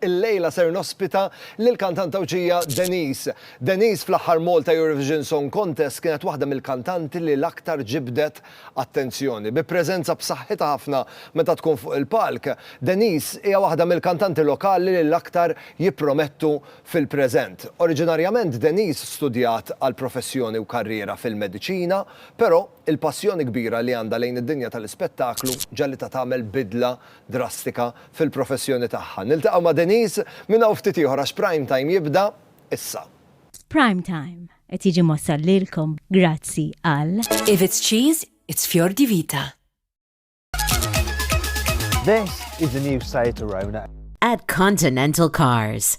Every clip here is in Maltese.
Illejla ser nospita lill-kantantawġija Denise. Denise fl-aħħar Malta Eurovision Song Contest kienet waħda mill-kantanti li l-aktar ġibdet attenzjoni. Bi preżenza b'saħħitha ħafna meta tkun fuq il-palk, Denise hija waħda mill-kantanti lokali li l-aktar jippromettu fil-preżent. Oriġinarjament Denise studjat għal professjoni u karriera fil-mediċina, però, Il-passjoni kbira li għandha lejn id-dinja tal-ispettaklu ġagħlitha tagħmel bidla drastika fil-professjoni tagħha. Niltaqgħu ma' Denise minn hawn ftit ieħor għax Prime Time jibda issa. Prime Time qed jiġi mwassal lilkom grazzi għal. If it's cheese, it's fior di vita. This is the new Citroën. At Continental Cars.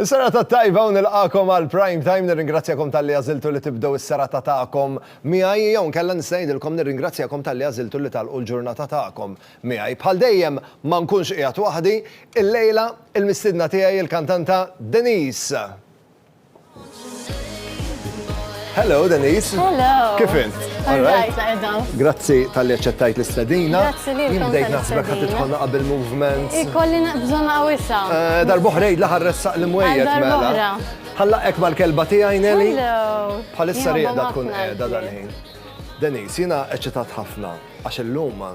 Is-serata t-tajba u nilqagħkom għal Prime Time. Nirringrazzjakom talli għażiltu li tibdew is-serata tagħkom miegħi jew inkella nista' ngħidilkom nirringrazzjakom talli għażiltu li tagħlqu l-ġurnata tagħkom miegħi. Bħal dejjem ma nkunx qiegħed waħdi. Illejla il-mistiedna tiegħi il-kantanta Denise. Hello, Denise. Hello. Kif int? Grazzi tal-li ċettajt l-istedina. Grazzi li Jien bdejt naħsbek ħat titħonna qabel movement. Ikolli bżonna għawissa. Eh, Darboħrejt laħar ressaq l-mwejjet mela. Ħalla ek mal-kelba tijaj, Nelly. Hello. Bħalissa rieda tkun edha dal-ħin. Denise, jina eċitat ħafna, għax l-lum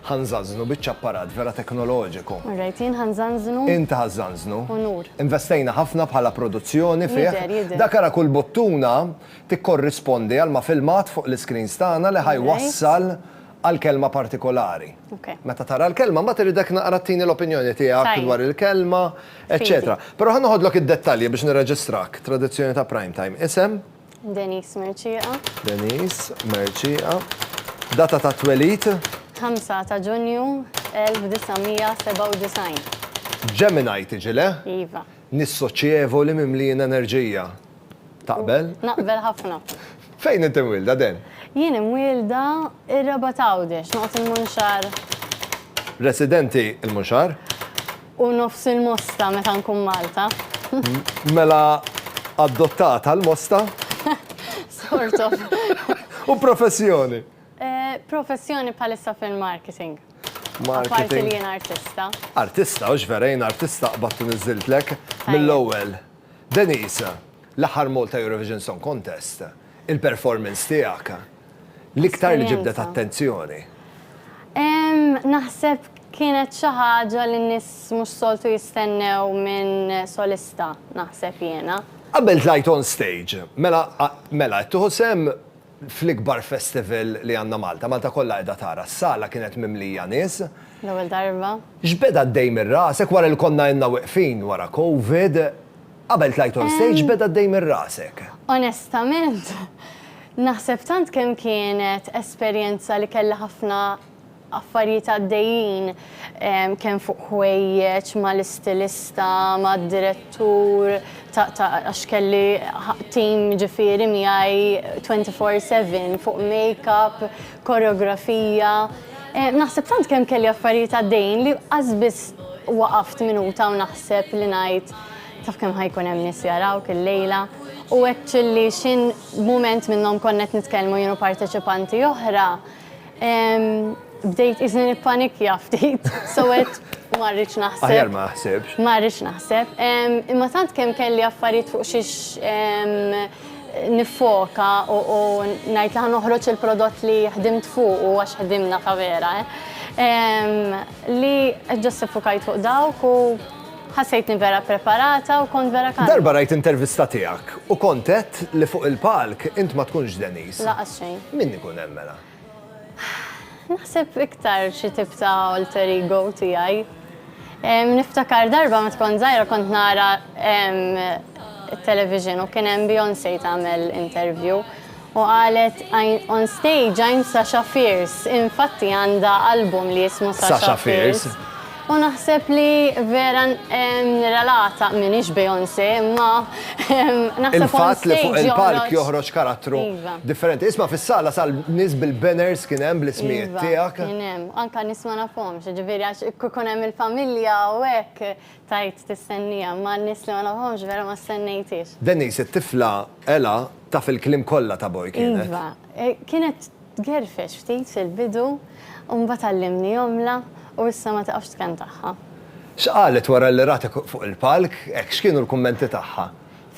Ħa nżanżnu biċċa apparat vera teknoloġiku. All right, jien ħa nżanżnu. Int ħa żżanżnu. Unur. Investejna ħafna bħala produzzjoni fih. Jidher, jidher. Dak ara kull buttuna tikkorrispondi għal ma' filmat fuq l-iscreens tagħna li ħa jwassal għal kelma partikolari. Ok. Meta tara l-kelma, mbagħad irridek naqra tini l-opinjoni tiegħek. Tajjeb. Dwar il-kelma, eċċetera. Fidi. Però ħa noħodlok id-dettalji biex nirreġistrak. Tradizzjoni ta' Primetime. Isem? Denise Mercieqa. Denise Mercieqa. Data ta' twelid? 5 ta' Ġunju 1997. Gemini tiġi, le? Iva. Nies soċjevoli mimlijin enerġija. Taqbel? Naqbel ħafna. Fejn inti mwielda, Den? Jien imwielda r-Rabat Għawdex, noqgħod il-Munxar. Residenti il-Munxar? U nofs il-mosta meta nkun Malta. Mela adottat għal mosta? Sort of. U professjoni? Professjoni bħalissa fil-marketing. Marketing. Apparti li jien artista. Artista, hux vera jien artista qbadt u niżżiltlek mill-ewwel. Denise, l-aħħar Malta Eurovision Song Contest. Il-performance tiegħek l-iktar li ġibdet attenzjoni? Naħseb kienet xi ħaġa li n-nies mhux soltu jistennew minn solista, naħseb jiena. Qabel tlajt on stage, mela mela qed tieħu sehem fl-ikbar festival li għandna Malta, Malta kollha qiegħda tara, s-sala kienet mimlija nies. L-ewwel darba. X'beda għaddej minn rasek wara li konna ilna weqfin wara Covid? Qabel tlajt on stage beda d-dej minn rasek? Onestament, naħseb tant kemm kienet esperjenza li kellha ħafna affarijiet għaddejjin kemm fuq ħwejjeġ mal-istilista, mad-direttur għax kelli tim ġifieri miegħi twenty four seven fuq makeup, koreografija. Naħseb tant kemm kelli affarijiet għaddejjin li qas biss waqaft minuta u naħseb li ngħid Taf kemm ħajkun hemm nies jarawk illejla? U hekk ċilli x'in mument minnhom konna qed nitkellmu jien u parteċipanti oħra, bdejt qisni nippanikja ftit, so għedt ma rridx naħseb. Aħjar ma aħsibx. Ma rridx naħseb. Imma tant kemm kelli affarijiet fuq xiex niffoka u ngħid li ħa noħroġ il-prodott li ħdimt fuq u għax ħdimna ta' vera, li just iffukajt fuq dawk u Ħassejtni vera ppreparata u kont vera kalma. Darba rajt intervista tiegħek u kont għedt li fuq il-palk int ma tkunx Denise. Lanqas xejn. Min ikun hemm mela? Naħseb iktar xi tip ta' alter ego tiegħi. Niftakar darba meta kont żgħira kont nara it-television u kien hemm Beyoncé tagħmel interview. U qalet on stage I'm Sasha Fierce, infatti għandha album li jismu Sasha Fierce u naħseb li vera nirrelata, m'iniex Beyoncé imma naħseb on stage joħroġ Iva. Differenti. Isma' fis-sala sal nies bil-banners kien hemm bl-ismijiet tiegħek. Iva, kien hemm. Anke nies ma nafhomx, jiġifieri għax kieku jkun hemm il-familja u hekk. Tgħid tistennieha, imma n-nies li ma nafhomx vera ma stennejthiex. Denise, it-tifla Ella taf il-kliem kollha ta' Boy kienet? Iva. Kienet tgerfex ftit fil-bidu u mbagħad għallimni jomla u issa ma tiqafx tkantagħha. X'qalet wara li ratek fuq il-palk? Hekk x'kienu l-kummenti tagħha?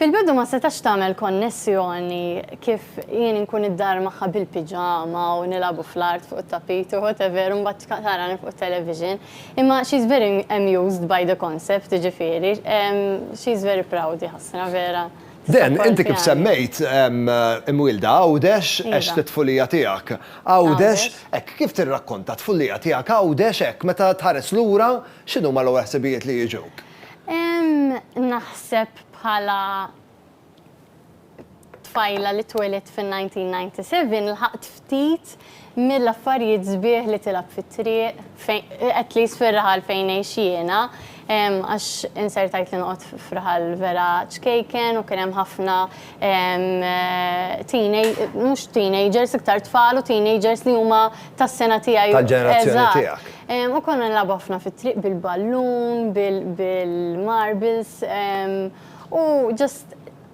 Fil-bidu ma setax tagħmel konnessjoni kif jien inkun id-dar magħha bil-piġama u nilagħbu fl-art fuq it-tapit u whatever u mbagħad tarani fuq it-television. Imma she is very amused by the concept jiġifieri she is very proud jħassra vera. Dan, inti kif semmejt imwielda Għawdex għext it-tfulija tiegħek Għawdex, hekk kif tirrakkonta t-tfulija tiegħek Għawdex hekk meta tħares lura x'inhuma l-ewwel ħsibijiet li jiġuk? Naħseb bħala tfajla li twelidt fin-1997 lħaqt ftit mill-affarijiet sbieħ li tilgħab fit-triq, at least fir-raħal fejn ngħix jiena, għax insertajt li noqgħod f'raħal vera ċkejken u kien hemm ħafna mhux teenagers, iktar tfal u teenagers li huma tas-sena tiegħi. Tal-ġenerazzjoni tiegħek. Eżatt. U konna nilagħbu ħafna fit-triq bil-ballun, bil-marbles, u just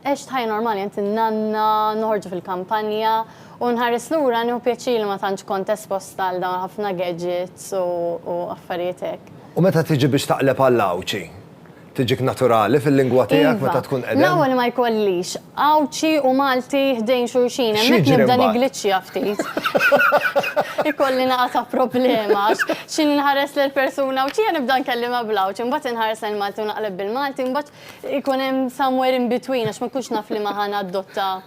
għext ħajja normali għand in-nanna, noħorġu fil-kampanja, u nħares lura nieħu pjaċir li ma tantx kont esposta għal dawn ħafna gadgets u affarijiet hekk. U meta tiġi biex taqleb għall-Għawdxi? Tiġik naturali fil-lingwa tiegħek meta tkun qedem? Iva. L-ewwel ma jkollix Għawdxi u Malti ħdejn xulxin, hemmhekk nibda nigliċċja ftit. Ikolli naqa' ta' problema għax xi nħares lejn persuna Għawdxija nibda nkellimha bl-Għawdxi, imbagħad inħares lejn Malti u naqleb bil-Malti, imbagħad ikun hemm somewhere in between għax ma nkunx naf liema ħa nadotta.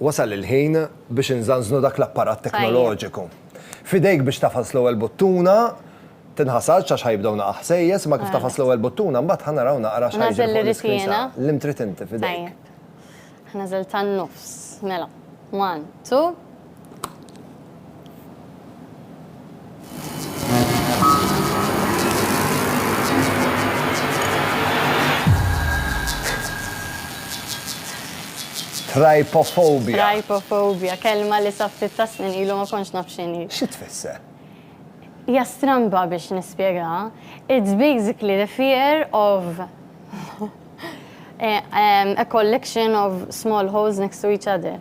Wasal il-ħin biex inżanżnu dak l-apparat teknoloġiku. F'idejk biex tagħfas l-ewwel buttuna, tinħasadx għax ħa jibdew naqgħa ħsejjes imma kif tagħfas l-ewwel buttuna mbagħad ħa naraw naqra x'ħa jiġri fuq l-iskrin sa l-im trid inti f'idejk. Tajjeb. Ħa nażel tan-nofs, mela. One, two. Trypophobia. Trypophobia, kelma li sa ftit ta' snin ilu ma kontx naf x'inhi. Xi tfisser? Hija stramba biex nispjegaha. It's basically the fear of A collection of small holes next to each other.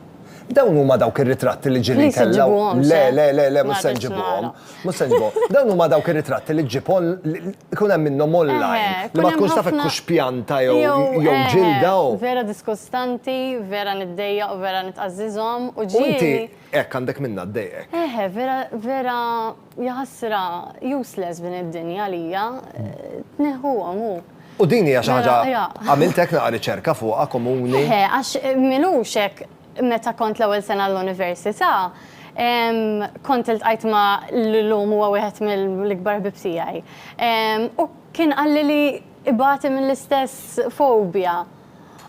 Dawn huma dawk ir-ritratti li ġieli ntellgħu. Le, le, le, le, mhux se nġibhom. Mhux se nġibhom. Dawn huma dawk ir-ritratti li ġġib ikun hemm minnhom online. Li ma tkunx taf hekk hux pjanta jew ġilda u. Vera diskustanti, vera niddejjaq u vera nitqażżiżhom u ġieli. U inti hekk għandek minnha ddejqek. Eħe, vera, vera. Jaħasra, useless din id-dinja għalija, tneħħuhom u. U din hija xi ħaġa għamilt hekk naqra riċerka fuqha komuni? Eħe, għax m'ilux hekk meta kont l-ewwel sena l-università, kont iltqajt ma' li llum huwa wieħed mill-ikbar ħbieb tiegħi. U kien qalli li ibati mill-istess fobja.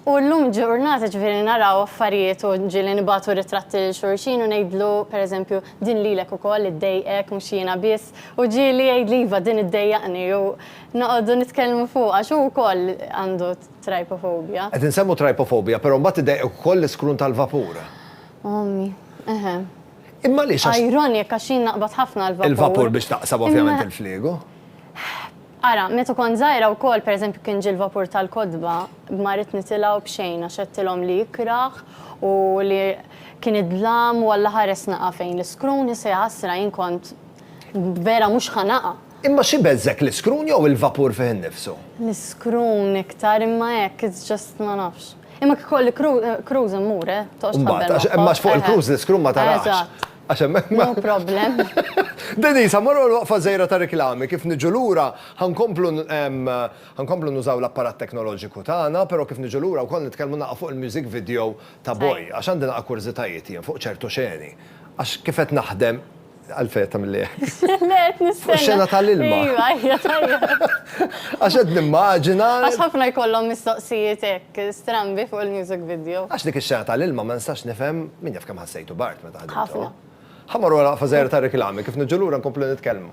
U llum ġurnata ġifieri naraw affarijiet u ġieli nibagħtu ritratti lil xulxin u ngħidlu, per eżempju, din lilek ukoll iddejqek mhux jiena biss, u ġieli jgħidli iva din iddejjaqni u noqogħdu nitkellmu fuqha għax hu wkoll għandu trypophobia. Qed insemmu trypophobia però mbagħad iddejqek ukoll l-iskrun tal-vapur. Ommi, eħe. Imma għaliex għax. Ironic għax jien naqbad ħafna l-vapur. Il-vapur biex taqsam ovvjament il-fliegu. Ara, meta kont żgħira wkoll, pereżempju kien ġie l-vapur tal-kotba, ma ridt nitilgħu b'xejn għax għedtilhom li ikrah u li kien id-dlam u Alla ħares naqa' fejn l-iskrun, issa jaħasra jien kont vera mhux ħa naqa'. Imma xi beżżgħek l-iskrun jew il-vapur fih innifsu? L-iskrun iktar imma hekk it's just ma nafx. Imma kif ikolli cruise immur, eh, toqgħodx tħabbel magħhom. Imbagħad, għax fuq il-cruise l-iskrun ma tarax. Eżatt. Għax hemmhekk ma. No problem. Denise, ħa mmorru għall-waqfa żgħira ta' riklami. Kif niġu lura, ħa nkomplu ħa nkomplu nużaw l-apparat teknoloġiku tagħna, però kif niġu lura wkoll nitkellmu naqgħa fuq il-music video ta' Boy, għax għandi naqgħa kurżitajiet jien fuq ċertu xeni. Għax kif qed naħdem, għalfejn qed tagħmilli hekk? Le, qed nistenna. Fuq ix-xena tal-ilma. Iva, iva, tajjeb. Għax qed nimmaġina. Għax ħafna jkollhom mistoqsijiet hekk strambi fuq il-music video. Għax dik ix-xena tal-ilma ma nistax nifhem, min jaf kemm ħassejtu b'art. Ħafna. Ħa marru għal waqfa żgħira ta' riklami, kif niġu lura nkomplu nitkellmu.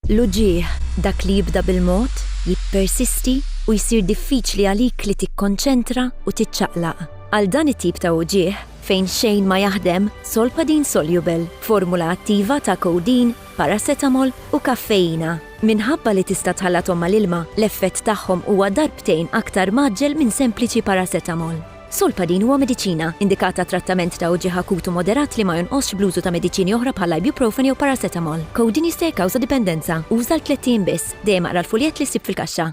L-uġigħ, dak li jibda bil-mod, jippersisti u jsir diffiċli għalik li tikkonċentra u tiċċaqlaq. Għal dan it-tip ta' uġigħ, Fejn xejn ma jaħdem, Solpadeine Soluble, formula attiva ta' codeine, paracetamol u kaffeina. Minħabba li tista' tħallathom mal-ilma, l-effett tagħhom huwa darbtejn aktar mgħaġġel minn sempliċi paracetamol. Solpadeine huwa mediċina, indikat għat-trattament ta' uġigħ akut u moderat li ma jonqosx bl-użu ta' mediċini oħra bħal ibuprofen jew paracetamol. Codeine jista' jikkawża dipendenza. Uża għal tlett ijiem biss. Dejjem aqra l-fuljett li ssib fil-kaxxa.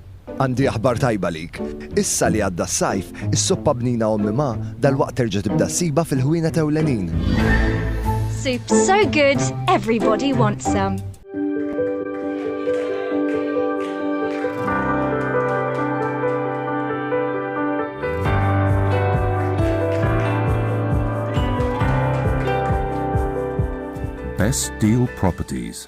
Għandi aħbar tajba għalik. Issa li għadda s-sajf, is-soppa bnina ommi ma, dalwaqt terġa' tibda ssibha fil-ħwienet ewlenin. Soup so good, everybody wants some. Best Deal Properties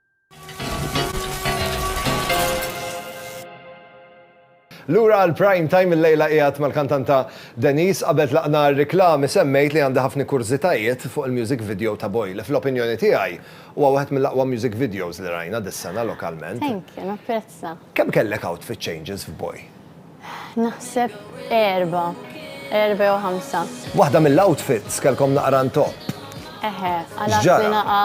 Lura għal prime time il-lejla qiegħed mal-kantanta Denise qabel tlaqna r-riklami semmejt li għandi ħafni kurżitajiet fuq il-music video ta' Boy li fl-opinjoni tiegħi huwa wieħed mill-aqwa music videos li rajna dis-sena lokalment. Thank you, napprezza. Kemm kellek outfit changes f'Boy? Naħseb erba, erba jew ħamsa. Waħda mill-outfits kelkom naqra ntoq. Eħe, għala sinaqa.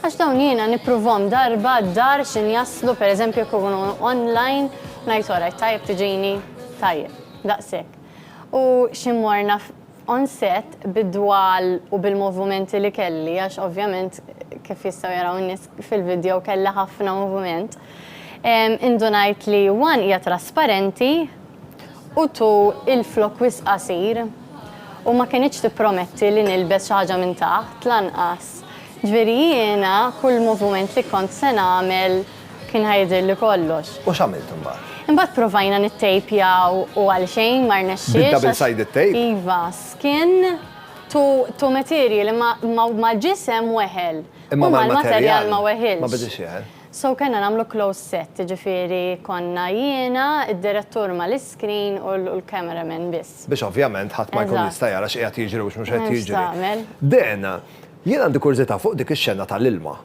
Għax dawn jiena nippruvom darba dar xin jaslu, per eżempju, kunu online, najt oraj, tajb tiġini, tajb, daqsek. U ximorna On set, bid-dwal u bil-movumenti li kelli, għax ovvjament kif jistgħu jaraw in-nies fil-video kelli ħafna movument, indunajt li one hija trasparenti u two il-flokk wisq qasir u ma kinitx tipprometti li nilbes xi ħaġa minn taħt lanqas. Ġifieri jiena kull movument li kont se nagħmel, Kien ħa jidhirli kollox. U x'għamilt imbagħad? Imbagħad provajna nittejpjaw u għal xejn ma rnexxiex. Bid-double sided tape? Iva, skin to to material imma mal-ġisem weħel. Imma mal-materjal ma weħilx. Ma bidietx jeħel. So kellna nagħmlu closed set, jiġifieri konna jiena, id-direttur mal-iskrin u l-camera man biss. Biex ovvjament ħadd ma jkun jista' jara x'qiegħed jiġri u x'mhux qed jiġri. Dan, jien għandi kurżità fuq dik ix-xena tal-ilma.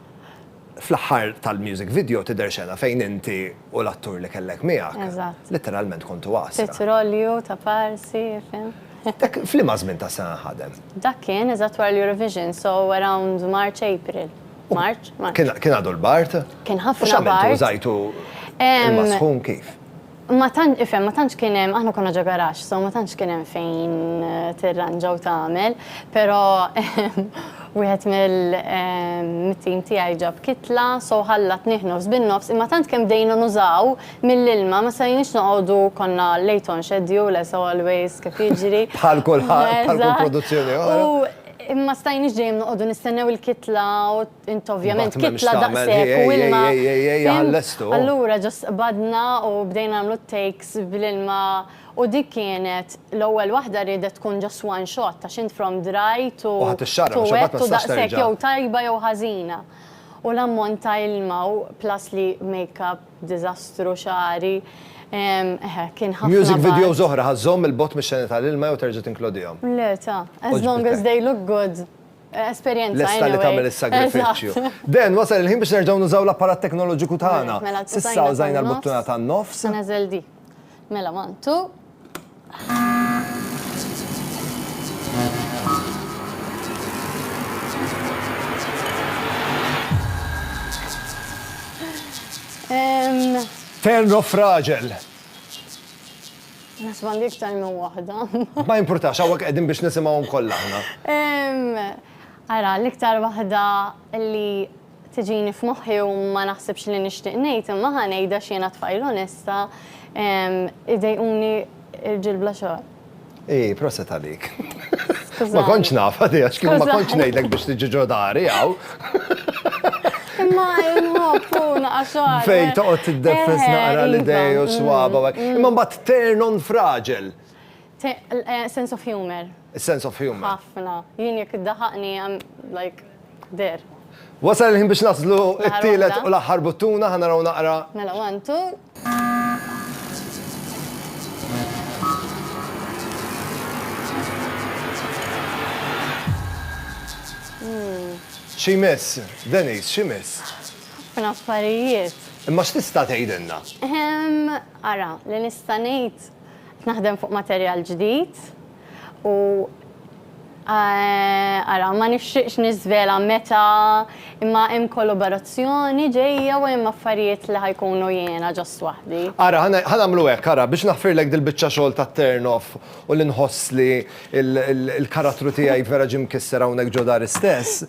Fl-aħħar tal-music video tidher xena fejn inti u l-attur li kellek miegħek. Eżatt. Litteralment kontu għasra. Titr olju ta' parsi, fim. Dak f'liema żmien tas-sena nħadem? Dak kien eżatt wara l-Eurovision, so around March, April. March? March. Kien għadu l-bard? Kien ħafna bard. U x'għamiltu? Użajtu il-masħun kif? Ma tant, ifhem, ma tantx kien hemm, aħna konna ġo garaxx, so ma tantx kien hemm fejn tirranġa u tagħmel, però wieħed mit-tim tiegħi ġab kitla, so ħallatnih nofs bin-nofs, imma tant kemm bdejna nużaw mill-ilma ma setgħinix noqogħdu, konna late on schedule as always kif jiġri. Bħal kulħadd, bħal kull produzzjoni oħra. U ma stajniex dejjem noqogħdu nistennew il-kitla u Int ovvjament Mbagħad m'hemmx kitla tagħmel, daqshekk u ej, ilma. ej, ej, ej, ej, fimt? ħallestu. Allura ġust qbadna u bdejna nagħmlu t-takes bl-ilma u dik kienet l-ewwel waħda riedet tkun just one shot għax int from dry to U ħadt ix-xarra to biex imbagħad ma wet u tistax daqshekk terġa'. jew tajba jew ħażina. U l-ammont ta' ilma u plus li makeup diżastru, xagħri, ehm, eħe, kien ħafna Music bagħad. videos oħra ħa żżomm 'il bogħod mix-xeni tal-ilma jew terġa' tinklodihom? Le, ta, as long as they look good. Esperjenza. Lesta li tagħmel is-sagrifiċċju. Dan wasal il-ħin biex nerġgħu nużaw l-apparat teknoloġiku tagħna. Mela, Sissa użajna l-buttuna tan-nofs. Neżel di. Mela, one, two. Turn off raġel. Naħseb għandi iktar minn waħda. Ma jimpurtax, hawnhekk qegħdin biex nisimgħuhom kollha aħna. Ara, l-iktar waħda li tiġini f'moħħi u ma naħsibx li nixtieq ngħid imma ħa ngħidha x'jiena tfajl onesta, idejquni rġiel bla xogħol. Ej, proset għalik. Ma kontx naf, għax kieku ma kontx ngħidlek biex tiġi ġo dari hawn. Imma nħobbu naqaswar. Fejn toqgħod tiddeffes naqra l-idej u swaba u hekk. Mm. Imma mbagħad turn on fraġel. Eh, sense of humor. Sense of humor. Ħafna. Jien jekk iddaħaqni I'm like there. Wasal il-ħin biex naslu it-tielet u l-aħħar buttuna ħanaraw naqra. Mela, one, two. Xi jmiss, Denise, xi jmiss? Ħafna affarijiet. Imma x'tista' tgħidilna? Ehm, ara, li nista' ngħid, qed naħdem fuq materjal ġdid. U eh, ara, ma nixtieqx niżvela meta imma hemm kollaborazzjoni ġejja u hemm affarijiet li ħajkunu jiena ġost waħdi. Ara, ħanamlu hekk, ara, biex naħfirlek dil-biċċa xogħol ta' turn off u li nħoss li l-karattru tiegħi vera ġie mkisser hawnhekk ġo dar istess.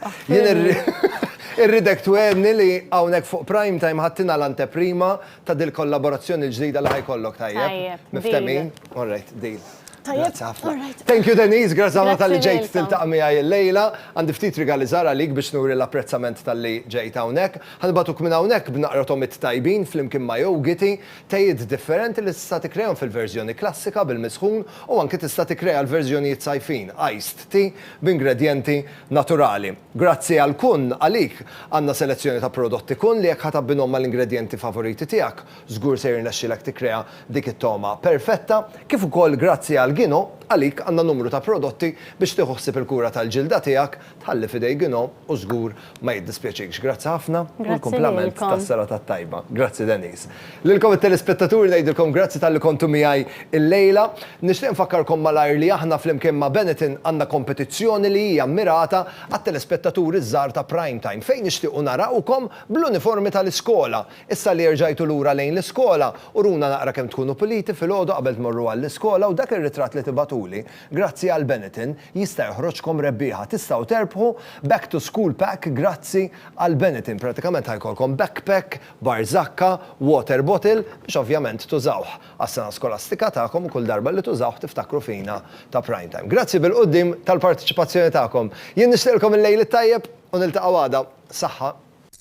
Irridek twenni li hawnhekk fuq prime time ħadtina l-anteprima ta' dil-kollaborazzjoni l-ġdida li ħajkollok tajjeb. Tajjeb. Miftehmin? All right, deal. Tajjeb, alright. Thank you Denise, grazzi ħafna talli ġejt tiltaqa' miegħi llejla. Għandi ftit rigali żgħar għalik biex nuri l-apprezzament talli ġejt hawnhekk. Ħa nibgħatuk minn hawnhekk b'naqra tomiet tajbin flimkien ma' jowgiti, tejiet differenti li tista' tikkrejahom fil-verżjoni klassika bil-misħun u anki tista' tikkreja l-verżjonijiet sajfin, iced tea, b'ingredjenti naturali. Grazzi għal Kun, għalik għandna selezzjoni ta' prodotti Kun li jekk ħa tabbinhom mal-ingredjenti favoriti tiegħek, Żgur se jirnexxilek tikkrea dik it-togħma perfetta, kif ukoll grazzi għal Gino, għalik għandna numru ta' prodotti biex tieħu ħsieb il-kura tal-ġilda tiegħek, tħalli f'idejn Gino u żgur ma jiddispjaċikx. Grazzi ħafna u l-kumplament tas-serata t-tajba. Grazzi Denise. Lilkom it-telespettaturi ngħidilkom grazzi talli kontu miegħi l-lejla. Nixtieq infakkarkom malajr li aħna flimkien ma' Benetton għandna kompetizzjoni li hija mmirata għat-telespettaturi ż-żgħar ta' Prime Time fejn nixtiequ narawkom bl-uniformi tal-iskola. Issa li erġajtu lura lejn l-iskola, uruna naqra kemm tkunu puliti filgħodu qabel tmorru għall-iskola u dak ir-ritratt li tibagħtuli, grazzi għal Benetton, jista' joħroġkom rebbieħa. Tistgħu terbħu Back to School Pack grazzi għal Benetton. Pratikament ħa jkollkom backpack, barżakka, water bottle, biex ovvjament tużawh għas-sena skolastika tagħkom u kull darba li tużawh tiftakru fina ta' Prime Time. Grazzi bil-quddiem tal-parteċipazzjoni tagħkom. Jien nixtieqilkom il-lejl it-tajjeb u niltaqgħu għada. Saħħa.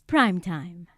F'Prime Time.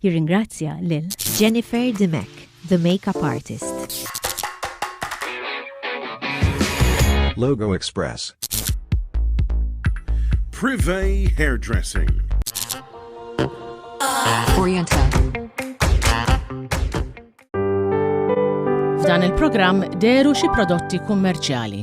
Jirringrazzja lil Jennifer Dimech, the makeup artist. Logo Express. Privé Hairdressing. Oriental. F'dan il-programm deru xi prodotti kummerċjali.